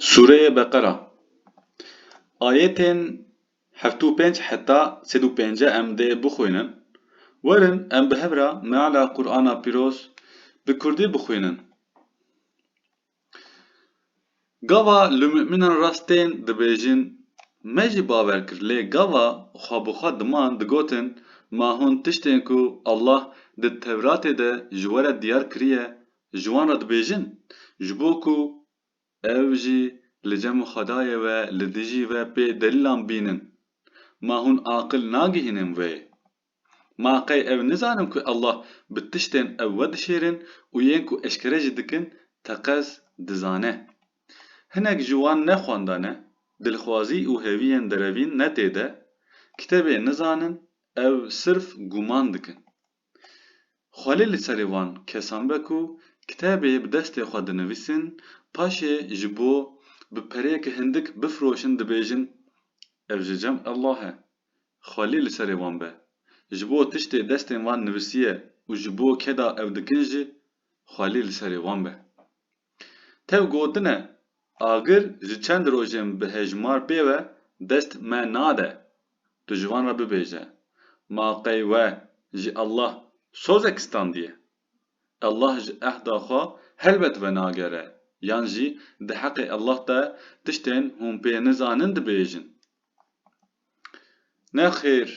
Sûreyê Beqera ayetên heft û pênc heta sed û pênc e em dê bixwînin. Werin em bi hev re meala Qur'ana Pîroz bi kurdî bixwînin. Gava li mu'mînan rast tên dibêjin me jî bawer kir lê gava xwe bi xwe diman digotin ma hûn tiştên ku Allah di Tewratê de ji we re diyar kiriye Ji wan re dibêjin, ji bo ku ew jî li cem û xwedayê we li dijî ve pê delîlan bînin. Ma hûn aqil nagihînin vê? Ma qey ew nizanin ku Allah bi tiştên ew we dişêrin û yên ku eşkere jî dikin teqez dizane. Hinek ji wan ne xwenda ne, dilxwazî û hêviyên derevîn ne tê de, kitêbê nizanin, ew sirf gûman dikin. Xwelê li serê van kesan be ku kitêbê bi destê xwe dinivîsin, paşê ji bo bi pereyeke hindik bifroşin dibêjin ev ji cem Allah e. Xwelê li serê wan be. Ji bo tiştê destên wan nivisiye û ji bo keda ew dikin jî xwelê li serê wan be. Tev gotine, agir ji çend rojên bi hejmar pê ve dest me nade. Tu ji wan re bibêje, Ma qey we ji Allah sozek standiye? Allah ji ehda xwe helbet venagere yan jî di heqê Allah de tiştên hûn pê nizanin dibêjin. Nexêr,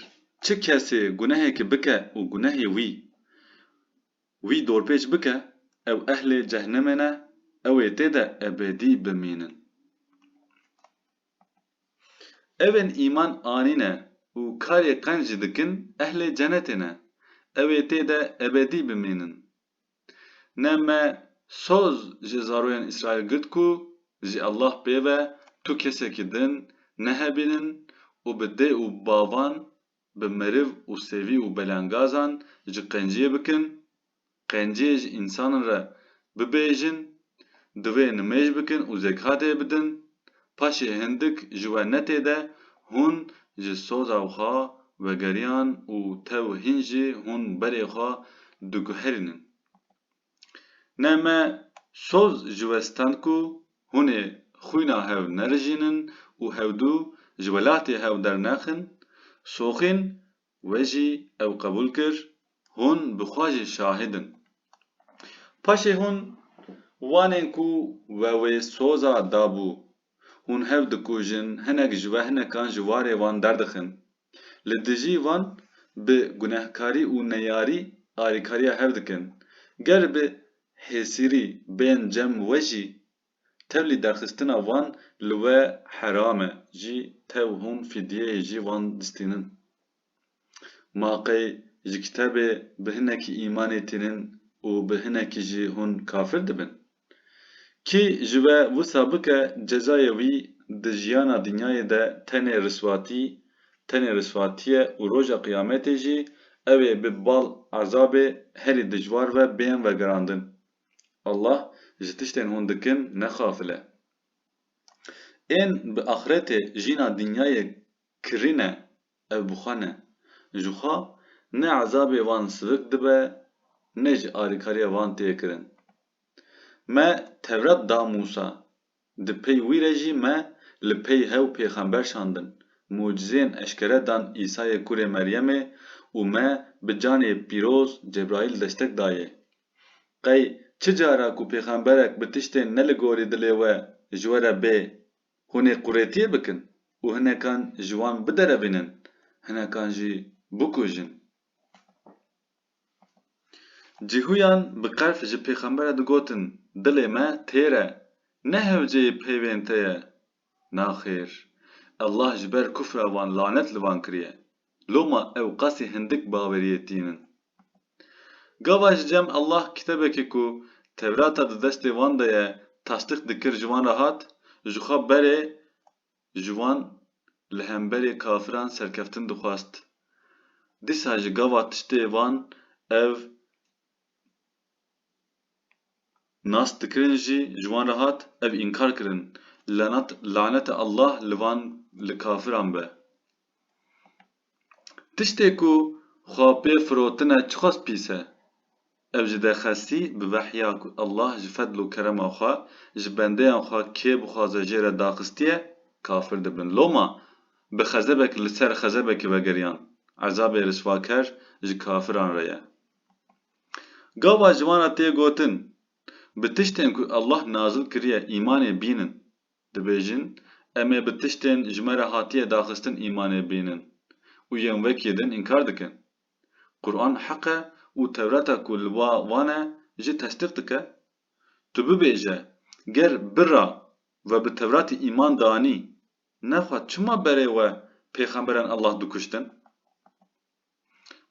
çi kesê gunehekê bike û gunehê wî Wî dorpêç bike, ew ehlê cehnemê ne, ew ê tê de ebedî bimînin. Ew ên îman anîne û karê qenc jî dikin ehlê cenetê ne, ew ê tê de ebedî bimînin. Ne me soz ji zaroyên Îsraîl girt ku, Ji Allah pê ve tu kesekî din nehebînin û bi dê û bavan, bi meriv û sevî û belengazan ji qenciyê bikin, qenciyê ji însanan re bibêjin, di wê nimêj bikin û zekatê bidin, paşê hindik ji we netê de hûn ji soza xwe vegeriyan û tew hîn jî hûn berê xwe diguherînin. Ne me soz ji we stend ku hûn ê xwîna hev nerijînin û hewdû ji welatê hev dernexin, Soxîn wê jî ew qebûl kir, hûn bi xwe jî şahîd in. Paşê hûn wanên ku we wê soza dabû, hûn hev dikujin, hinek ji we hinekan ji warê wan derdixin, Li dijî van bi gunehkarî û neyarî alîkariya hev dikin. Ger bi hêsîrî bên cem we jî, tevlî derxistina van li we heram e. Jî tev hûn fîdyeyê jî van distînin. Ma qey ji kitebê bi hinekî îmanê tînin û bi hinekî jî hûn kafir dibin? Kî ji we wisa bike cezayê wî di jiyana dinyayê de tenê riswatî, tenê riswatî ye û roja qiyametê jî ew ê bi bal ezabê herî dijwar ve bên vegerandin. Allah ji tiştên hûn dikin ne xafil e. Ên bi axretê jîna dinyayê kirîne Ev bi xwe ne. Ji xwe ne ezabê van sivik dibe ne jî alîkariya van tê kirin. Me Tewret da Mûsa, di pey wî re jî me li pey hew pêxember şandin, mucizeyên eşkere dan Îsayê kurê Meryemê û me bi canê pîroz Cebraîl destek dayê. Qey çi cara ku pêxemberek bi tiştên ne li gorî dilê we ji we re bê Hûn ê qûretiyê bikin û hinekan ji wan biderevînin, hinekan jî bikujin. Cîhûyan bi qerf ji pêxembere digotin, Dilê me têr e, ne hewceyê peyvên te ye. Naxêr! Allah ji ber kufra wan lanet li van kiriye. Loma ew qasî hindik baweriyê tîn in. Gava ji cem Allah kitebekê ku Tewrata di destê wan de ye tasdîq dikir ji wan re hat, ji xwe berê ji wan li hemberê kafiran serkeftin dixwast. Dîsa ji gava tiştê van ev Nas dikirin jî ji wan re hat ev înkar kirin, lenat lanete Allah li van li kafiran be. Tiştê ku xwe pê firotine çiqas pîs e. Ev ji dexesî bi vehya ku Allah ji fedl û kerema xwe ji bendeyan xwe kê bixwaze jê re daxistiye kafir dibin. Loma bi xezebek li ser xezebekî vegeriyan. Ezabê riswaker ji kafiran re ye. Gava ji wan re tê gotin, Bi tiştên ku Allah nazil kiriye îmanê bînin. Dibêjin, Em ê bi tiştên ji me re hatiye daxistin îmanê bînin û yên wekî din înkar dikin. Quran heq e û Tewrata ku li wa van e jî tesdîq dike. Tu bibêje, Ger bira we bi Tewratî îman danî, ne xwe çima berê we pêxemberên Allah dikuştin?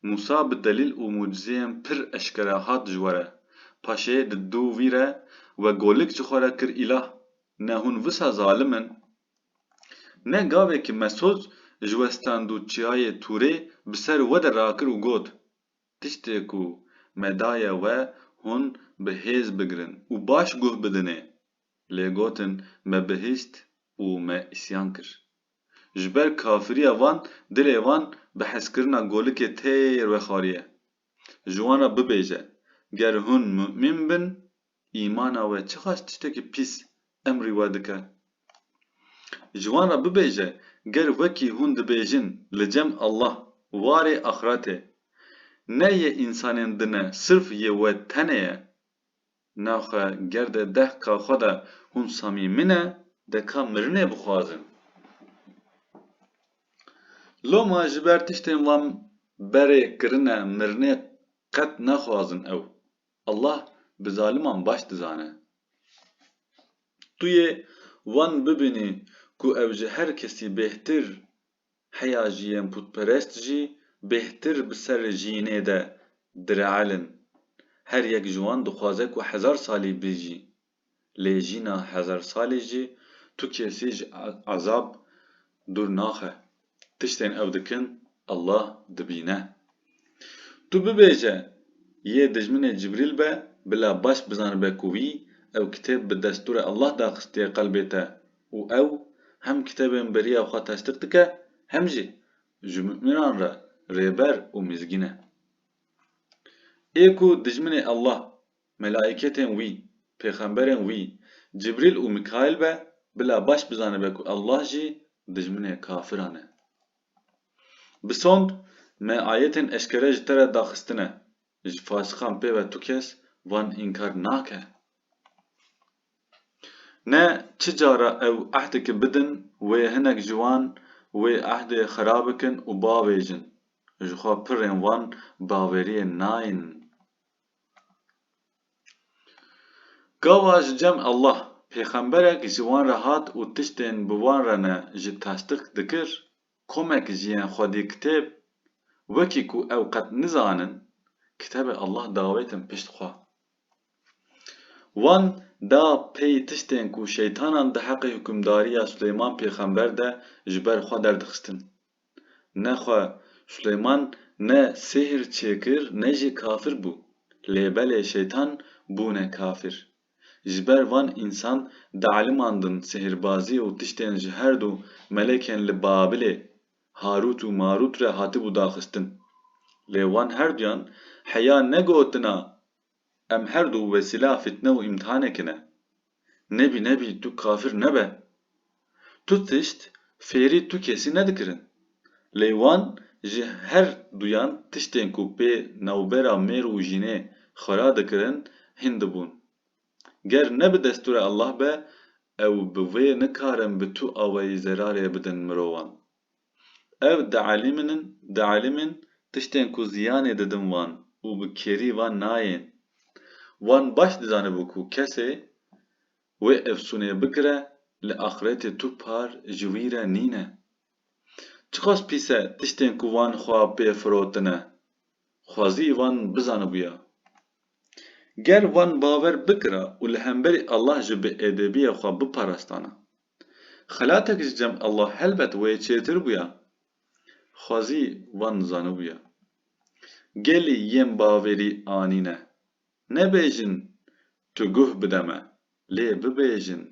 Mûsa bi delîl û mucizeyên pir eşkere hat ji were, paşê di dû wî re we golik ji xwe re kir îlah, ne hûn wisa zalim in? Ne gavekî mesoz ji we stand û çiyayê Tûrê bi ser we de rakir û got, Tiştê ku me daye we hûn bi hêz bigirin û baş guh bidinê. Lê gotin, Me bihîst û me îsyan kir. Ji ber kafiriya wan dilê wan bi hezkirina golikê têr vexwariye. Ji wan re bibêje, Ger hûn mumîn bin, îmana we çiqas tiştekî pîs emrî we dike? Ji wan re bibêje, Ger wekî hûn dibêjin li cem Allah warê axretê, ne yê însanên din e sirf yê we tenê ye. Naxwe ger de deh ka xwe de hûn Samî min e, de ka mirinê bixwazin. Loma ji ber tiştên wan berê kirine mirinê qet naxwazin ew. Allah bi zaliman baş dizane. Tu yê wan bibînî ku ew ji her kesî bêhtir Heya jî yên putperest jî bêhtir bi serê jînê de direelin. Her yek ji wan dixwaze ku hezar salî bijî. Lê jîna hezar salî jî tu kesî ji ezab dûr naxe. Tiştên ew dikin Allah dibîne. Tu bibêje yê dijminê Cibrîl be bila baş bizanibe ku wî ew kitêb bi destûrê Allah daxistiye qelbê te û ew hem kitêbên beriya xwe tasdiq dike hem jî ji mumînan re rêber û mizgîn e. Ê ku dijminê Allah, melaîketên wî, pêxemberên wî, Cibrîl û Mîkaîl be, bila baş bizanibe ku Allah jî dijminê kafiran e. Bi sond me ayetên eşkere ji te re daxistine, ji fasixan pê ve tu kes van înkar nake. Ne çi cara ew ehdeke bidin wê hinek ji wan wê ehdê xira bikin û bavêjin, ji xwe pirrên wan baweriyê nain. Gava ji cem Allah, pêxemberek ji wan re hat û tiştên bi wan re ne ji tasdik dikir, Komek ji yên xwedî kitêb wekî ku ew qet nizanin kitêbê Allah dawêtin pişt xwe. Wan da pey tiştên ku şeytanan di heqê hukimdariya Suleyman pêxember de ji ber xwe derdixistin. Ne xwe Suleyman ne sihir çêkir ne jî kafir bû. Lê belê şeytan bûne kafir. Ji ber van însan dialimandin sihrbazî û tiştên ji her du melekên li Babilê, Harût û Marût re hatibû daxistin. Lê wan her duyan heya negotina em her du wesîla fîtne û îmtihaneke ne. Nebî nebî tu kafir nebe. Tu tişt fêrî tu kesî nedikirin. Lê wan ji her duyan tiştên ku pê navbera mêr û jînê xwera dikirin hîn dibûn. Ger ne bi destûrê Allah be ew bi vê nikarin bi tu awayî zerarê bidin mirovan. Ev dielîmînin tiştên ku ziyanê didin wan û bi kêrî van nayên. Wan baş dizanibû ku kesê Wê efsûnê bikire li axretê tu par ji wî re nîne. Çiqas pîs e tiştên ku wan xwe pê firotine. Xwezî wan bizanibûya. Ger wan bawer bikira û li hemberî Allah ji biêdebiyê xwe biparastana. Xelatek ji cem Allah helbet wê çêtir bûya. Xwezî wan zanibûya. Gelî yên bavêrî anîne. Nebêjin tu guh bide me, lê bibêjin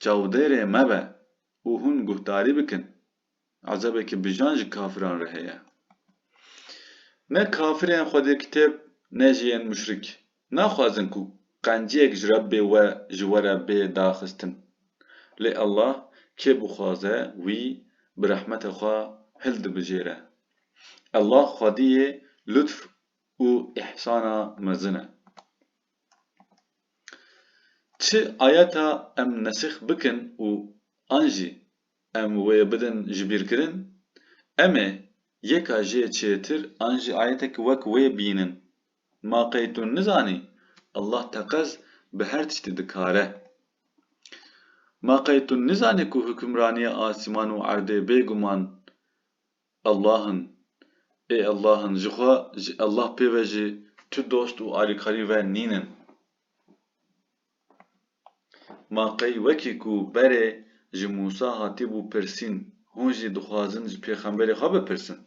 çavdêrê me be û hûn guhdarî bikin. Ezebeke bijan ji kafiran re heye. Ne kafirên xwedîrkitêb ne jî yên muşrik naxwazin ku qenciyek ji Rebbê we ji we re bê daxistin. Lê Allah kê bixwaze wî bi rehmeta xwe hildibijêre. Allah xwediyê lutf û îhsana mezin e. Çi ayeta em nesîx bikin û an jî em wê bidin jibîrkirin, em ê yeka jê çêtir an jî ayetek wek wê bînin. Ma qey tu nizanî Allah teqez bi her tiştî dikar e? Ma qey tu nizanî ku hukimraniya asîman û erdê bêguman Allah in. Ê Allah in. Ji xwe, ji Allah pê ve jî tu dost û alîkarî we nîn in. Ma qey wekî ku berê ji Mûsa hatîbû pirsîn, hûn jî dixwazin ji pêxemberê xwe bipirsin.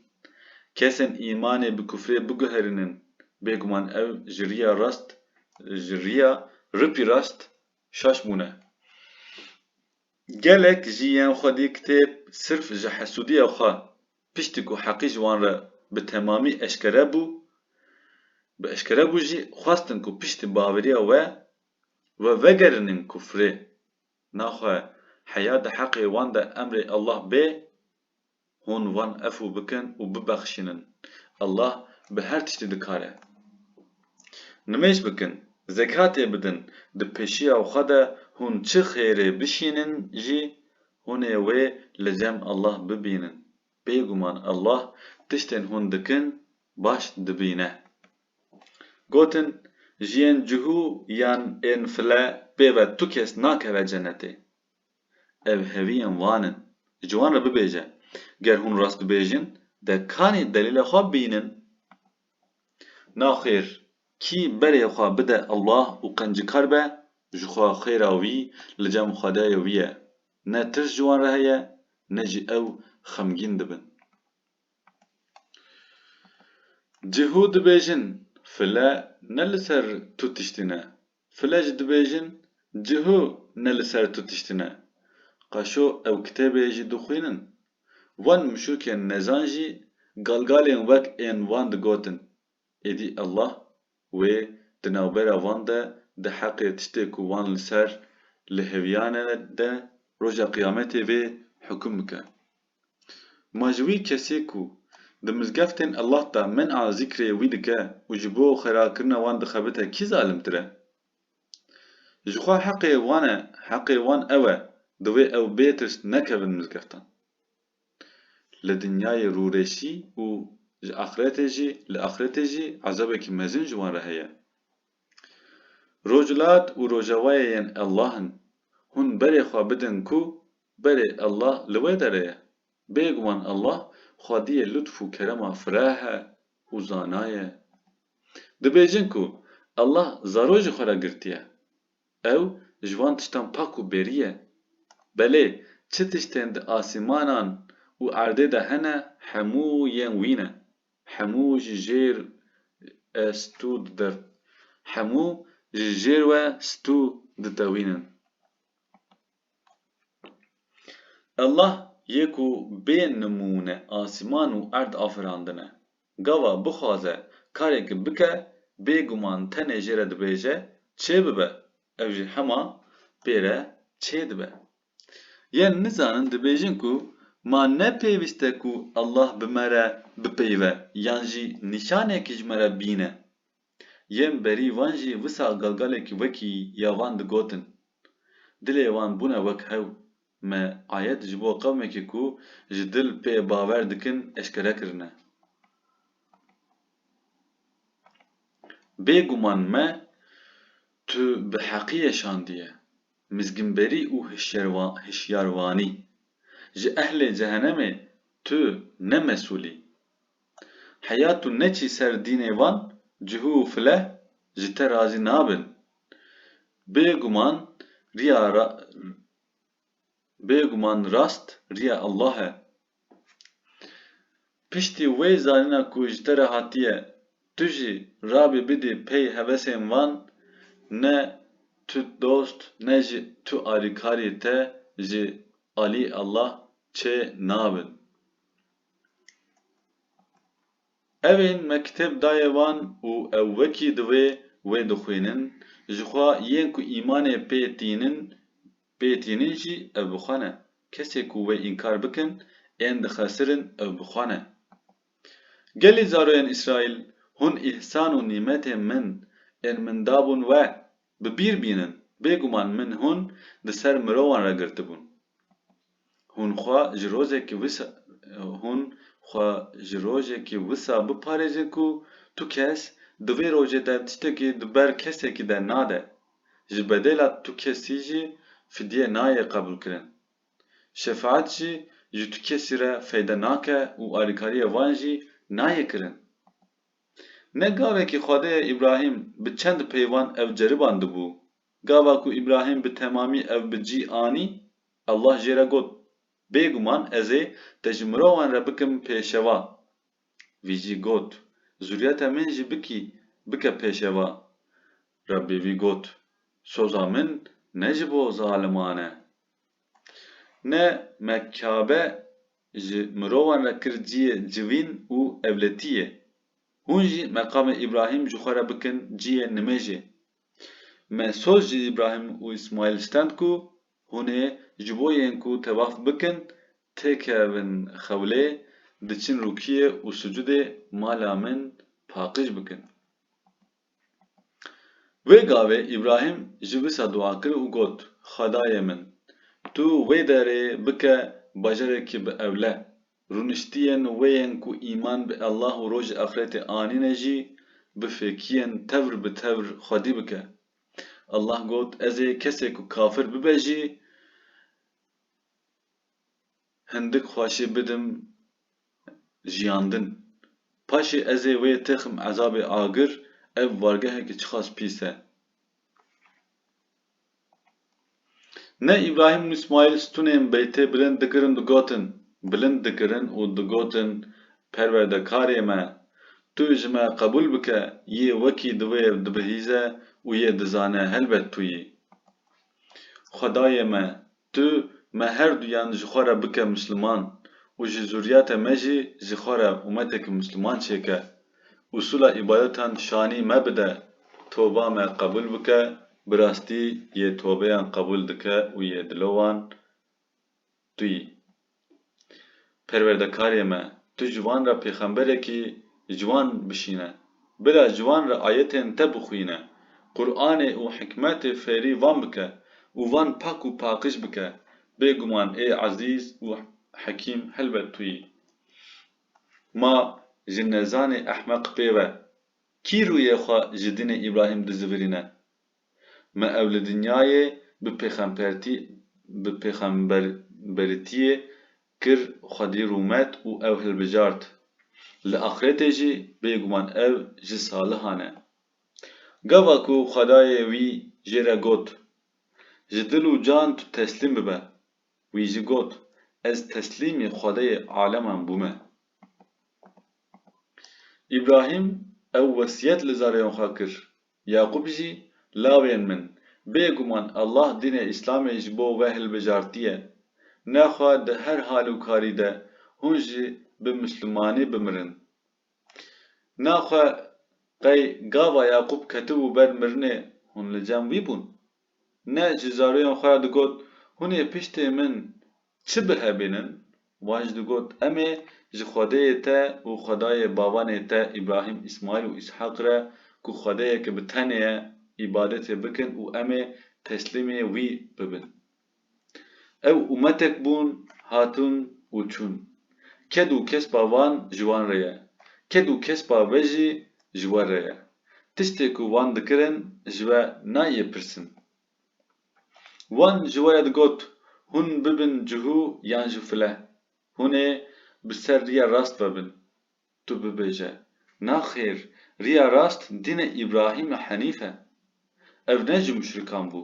Kesên îmanê bi kufrê biguherînin, bêguman ew ji riya rast, ji riya ripî rast şaş bûne. Gelek jî yên xwedî kitêb sirf ji hesûdiya xwe piştî ku heqî ji wan re bi temamî eşkere bû, bi eşkere bû jî xwestin ku piştî baveriya we, we vegerînin kufrê. Naxwe heya di heqê wan de emrê Allah bê Hûn wan efû bikin û bibexşînin. Allah bi her tiştî dikar e. Nimêj bikin, zekatê bidin, di pêşiya xwe de hûn çi xêrê bişînin jî, hûn ê wê li cem Allah bibînin. Bêguman Allah tiştên hûn dikin baş dibîne. Gotin, Ji yên cihû yan ên file pê ve tu kes nakeve cenetê. Ev heviyên van in. Ji wan re bibêje, Ger hûn rast dibêjin, de kanî delîla xwe bînin. Naxêr, kî berê xwe bide Allah û qencikar be, ji xwe xêra wî li cem Xwedayê wî ye. Ne tirs ji wan re heye, ne jî ew xemgîn dibin. Cihû dibêjin, File ne li ser tu tiştî ne, File jî dibêjin cih û ne li ser tu tiştin e. Qaşo ew kitêbê jî dixwînin. Van mişûkên nezan jî galgalên wek ên wan digotin. Êdî Allah wê di navbera van de di heqê tiştê ku wan li ser li hêviyane de roja qiyametê vê hukum bike. Ma ji wî kesê ku di mizgeftên Allah de min a zîkrê wî dike û ji bo xêrakirina wan dixebite kî zalimtir e? Jixwe heqê wan e, heqê wan ew e divê ew bê tirs nekevin mizgeftan. Li dinyayê rûreşî û ji axretê jî, li axretê jî ezabekî mezin ji wan re heye. Rojhilat û rojevayê yên Ellah in. Hûn berê xwe bidin ku berê Ellah li wê derê ye. Bêguman Ellah xwediyê lutf û kerema fireh e û zana ye. Dibêjin ku Ellah zaro ji xwe re girtiye. Ew ji van tiştan pak û bêrî ye. Belê çi tiştên di asîmanan û erdê de hene hemû yên wî ne. Hemû ji jêr e stû dide. Hemû ji jêr we stû ditewînin. Allah yê ku bê nimûne asîman û erd afirandine. Gava bixwaze karêk bike bêguman tenê jê re dibêje çê bibe ew jî hema pê re çê dibe. Yên nizanin dibêjin ku ma ne pêwîst e ku Allah bi me re bipeyve yan jî nîşanekî ji me re bîne. Yên berî wan jî wisa galgalekî wekî ya van digotin. Dilê wan bûne wek hew. Me ayet ji bo qewmekî ku ji dil pê bawer dikin eşkere kirine. Bêguman me tu bi heqiyê şandiye. Mizginberî û hişyarvanî. Ji ehlê cehenemê tu ne mesûl î. Heya tu neçî ser dînê wan cihû û fileh ji te razî nabin. Bêguman riya Bêguman rast riya Allah e Piştî wê zanîna ku ji te re hatiye, tu jî rabî bidî pey hevesên van, ne tu dost ne jî tu alîkarî te ji alî Allah çê nabin. Evên me kitêb daye wan û ew wekî divê wê dixwînin, jixwe yên ku îmanê pê tînin pê tînin jî ev bi xwe ne. Kesê ku wê înkar bikin, ên dixesirin ew bi xwe ne. Gelî zaroyên Îsraîl, hûn îhsan û nîmetên min ên min dabûn we, bi bîr bînin, bêguman min hûn di ser mirovan re girtibûn. Hûn xwe ji rojekî wisa hûn xwe ji rojekî wisa biparêzin ku tu kes di vê rojê de tiştekî di ber kesekî de nade, ji bedêla tu kesî jî fidye nayê qebûlkirin. Şefaet jî ji tu kesî re feyde nake û alîkariyê wan jî nayê kirin. Ne gavekî Xwedê Îbrahîm bi çend peyvan ev ceribandibû. Gava ku Îbrahîm bi temamî ev bi cî anî, Allah jê re got, Bêguman ez ê te ji mirovan re bikim pêşeva. Vî jî got, Zuriyeta min jî bikî bike pêşeva. Rebbê vî got, Soza min ne ji bo zaliman e. Ne me Kabe ji mirovan re kir ciyê civîn û evletiyê. Hûn jî meqamê Îbrahîm ji xwe re bikin ciyê nimêjê. Me soz ji Îbrahîm û Îsmaîl stend ku hûn ê ji bo yên ku tewaf bikin têkevin xewlê, diçin rûkiyê û sucûdê mala min paqij bikin. Wê gavê Îbrahîm ji wisa dua kir û got, Xwedayê min! Tu wê derê bike bajarekî bi ewle, Rûniştiyên wê yên ku îman bi Ellah û Rojê Axretê anîne jî bi fêkiyên tevr bi tevr xwedî bike. Ellah got, Ez ê kesê ku kafir bibe jî hindik xweşî bidim jiyandin. Paşê ez ê wê têxim ezabê agir, ev wargehekî çiqas pîs e. Ne Îbrahîm û Îsmaîl stunên beytê bilind dikirin digotin, bilind dikirin û digotin Perwerdekarê me! Tu ji me qebûl bike, yê wekî divê ev dibihîze û yê dizane helbet tu yî. Xwedayê me, Tu me her duyan ji xwe re bike misliman û ji zuriyata me jî ji xwe re umeteke misliman çêke. Usûla îbadetan şanî me bide, toba me qebûl bike, bi rastî yê tobeyan qebûl dike û yê dilo wan tu yî. Perwerdekarê me, tu ji wan re pêxemberekî ji wan bişîne. Bila ji wan re ayetên te bixwîne, Quranê û hikmetê fêrî van bike û van pak û paqij bike. Bêguman ê Ezîz û Hekîm helbet tu yî. Ma ji nezanê ehmeq pê ve, kî rûyê xwe ji dinê Îbrahîm dizivirîne? Me ew li dinyayê bi pêxempertî bi pêxemberitiyê kir xwedî rûmet û ew hilbijart. Li axirêtê jî bêguman ev ji salihan e. Gava ku xwedayê wî jê re got, Ji dil û can tu teslîm bibe, wî jî got, Ez teslîmî xwedayê aleman bûme. Îbrahîm ew wesiyet li zareyan xwe kir, Yaqûb jî, Lawên min, bêguman Allah dînê Îslamê ji bo we hilbijartiye. Nexwe di her hal û karî de hûn jî bi Mislimanî bimirin. Naxwe qey gava Yaqûb ketibû ber mirinê hûn li cem wî bûn? Ne ji zaroyan xwe ya digot, Hûn ê piştê min çi bihebînin? Wan jî digot, Em ê ji Xwedeyê te û Xwedayê babanê te Îbrahîm, Îsmaîl û Îshaq re ku Xwedeyeke bi tenê ye, îbadetê bikin û em ê teslîmê wî bibin. Ew umetek bûn, hatun û çûn. Ked û kespa van ji wan re ye, ked û kespa ve jî ji we re ye. Tiştê ku van dikirin ji we nayê pirsin. Wan ji we re digot, Hûn bibin cihû yan jî file, hûn ê bi ser riya rast ve bin. Tu bibêje, Naxêr, riya rast dînê Îbrahîm Henîf e. Ev ne ji muşrikan bû.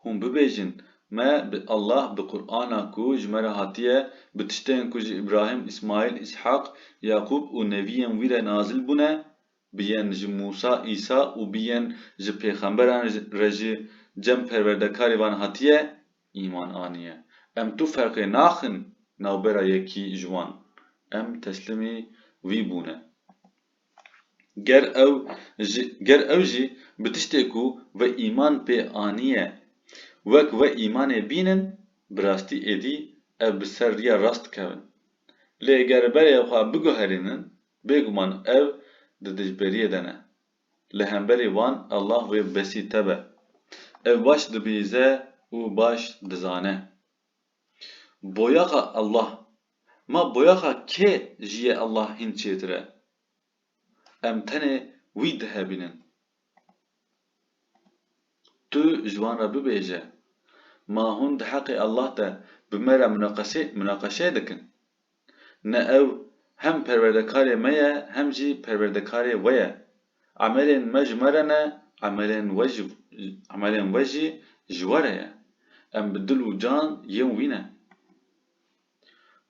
Hûn bibêjin, Me bi Allah bi Qur'ana ku ji me re hatiye, bi tiştên ku ji Îbrahîm, Îsmaîl, Îshaq, Yaqûb û neviyên wî re nazil bûne, biyên ji Mûsa, Îsa û biyên ji pêxemberan re jî cem perwerdekarî van hatiye, îman aniye. Em tu ferqê naxin navbera yekî ji wan. Em teslimî wî bûne. Ger ew ji ger ew jî bi tiştê ku ve îman pê aniye wek ve îmanê bînin bi rastî êdî ev bi ser riya rast dikevin. Lê ger berê xwe biguherînin bêguman ev di dijberiyê de ne. Li hemberî wan Allah wê besî te be. Ev baş dibihîze û baş dizane. Boyaxa Allah Ma boyaxa kê ji yê Allah hîn çêtir e. Em tenê wî dihevînin. Tu ji wan re bibêje, Ma hûn di heqê Allah de bi me re munaqeşe munaqeşe dikin? Ne ew hem perwerdekarê me ye hem jî perwerdekarê we ye. Emelên me ji me re ne, emelên we ji emelên we jî ji we re ye. Em bi dil û can yên wî ne.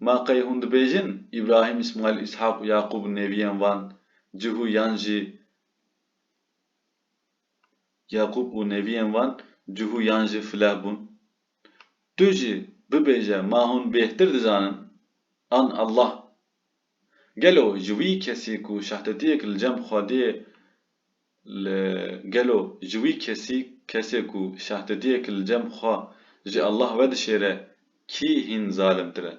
Ma qey hûn dibêjin Îbrahîm, Îsmaîl, Îshaq û Yaqûb neviyên van cihû yan jî Yaqûb û neviyên van cihû yan jî fileh bûn? Tu jî bibêje ma hûn bêhtir dizanin an Allah Gelo ji wî kesî ku şehtetiyek li cem xwediyê li gelo ji wî kesî kesê ku şehtetiyek li cem xwe ji Allah wedişêre kî hîn zalimtir e?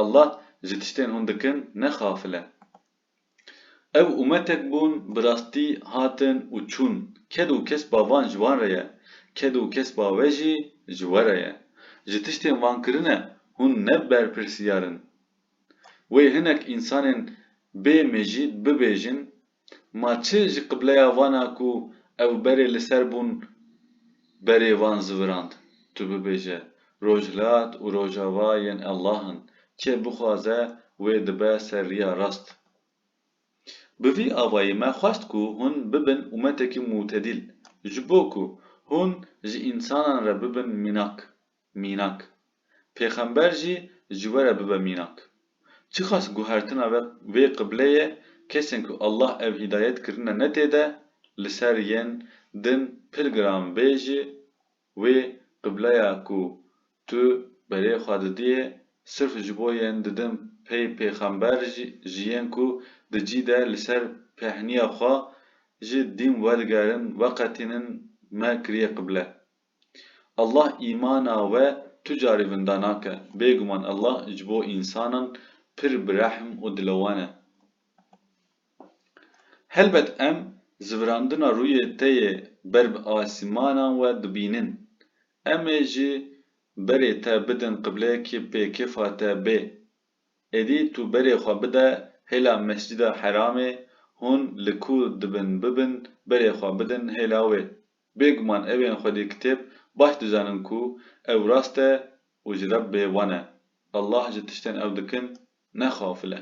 Allah ji tiştên hûn dikin ne xafil e. Ew umetek bûn bi rastî hatin û çûn, ked û kesba van ji wan re ye, ked û kesba we jî ji we re ye. Ji tiştên van kirine hûn ne berpirsiyar in. Wê hinek însanên bê mejî bibêjin, Ma çi ji qibleya vana ku ew berê li ser bûn berê van zivirand? Tu bibêje, Rojhilat û Rojava yên Allah in, kê bixwaze wê dibe ser riya rast. Bi vî avayî me xwest ku hûn bibin umetekî mûtedîl, ji bo ku hûn ji însanan re bibin mînak. Mînak. Pêxember jî ji we re bibe mînak. Çiqas guhertina ve vê qibleyê kesên ku Allah ev hîdayet kirine ne tê de li ser yên din pir giran bê jî wê qibleya ku tu berê xwe didiyê sirf ji bo yên di din pey pêxember ji yên ku di cî de li ser pêhniya xwe ji dîn wedigerin weqetînin me kiriyê qible. Allah îmana we tu carî vinda nake, bêguman Allah ji bo însanan pir bi rehm û dilewan e. Helbet em zivirandina rûyê te yê ber bi asîmanan we dibînin. Em ê ji berê te bidin qibleyekê pê kêfa te bê. Êdî tu berê xwe bide hêla Mescida Heramê, hûn li ku dibin bibin berê xwe bidin hêla wê. Bêguman ew ên xwedî kitêb baş dizanin ku ew rast e û ji Rebbê wan e. Allah ji tiştên ew dikin ne xafil e.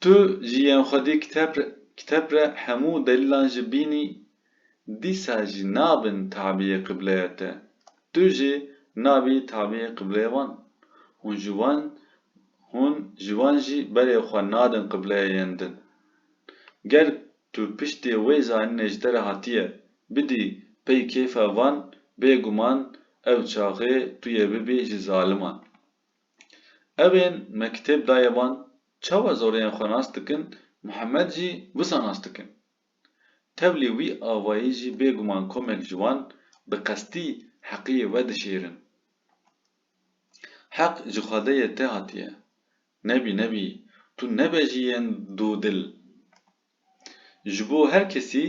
Tu ji yên xwedî kitêb re hemû delîlan jî bînî, dîsa jî nabin tabîyê qibleya te. Tu jî nabî tabîyê qibleyê wan. Hûn ji wan jî berê xwe nadin qibleyê yên din. Ger tu piştê wê zanînê ji te re hatiye, bidî pey kêfa van, bêguman ew çaxê tu yê bibî ji zaliman. Ew ên me kitêb daye van, çawa zoreyên xwe nas dikin, Mihemed jî wisa nas dikin. Tevlî wî avayî jî bêguman komek ji wan bi qestî heqiyê we dişêrin. Heq ji xwedeyê te hatiye. Nebî nebî tu nebe ji yên dûdil. Ji bo her kesî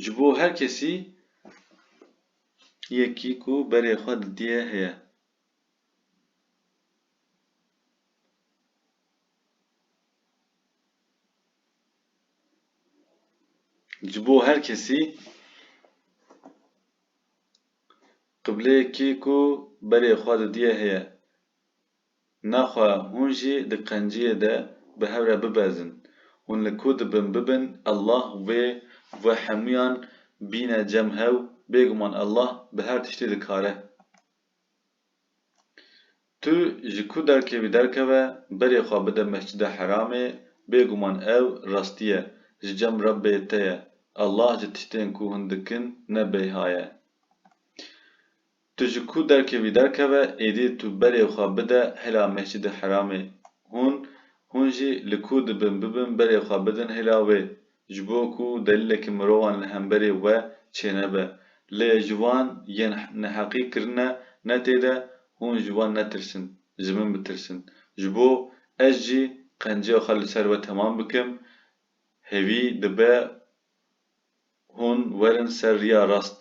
Ji bo her kesî yekî ku berê xwe didiye heye. Ji bo her kesî. Qibleyekî ku berê xwe didîye heye. Naxwe hûn jî di qenciyê de bi hev re bibezin. Hûn li ku dibin bibin Allah wê ve hemûyan bîne cem hew, bêguman Allah bi her tiştî dikare. Tu ji ku derkê wî derkeve berê xwe bide Mescide Heramê bêguman ew rastî ye ji cem Rebbê te ye Allah ji tiştên ku hûn dikin ne bêha ye. Tu ji ku derkê wî derkeve êdî tu berê xwe bide hêla Mescide Heramê hûn hûn jî li ku dibin bibin berê xwe bidin hêla wê Ji bo ku delîlekî mirovan li hemberê we çênebe. Lê ji van yên neheqî kirine ne tê de hûn ji wan netirsin, ji min bitirsin. Ji bo ez jî qenceya xwe li ser we temam bikim, hêvî dibe hûn werin ser riya rast.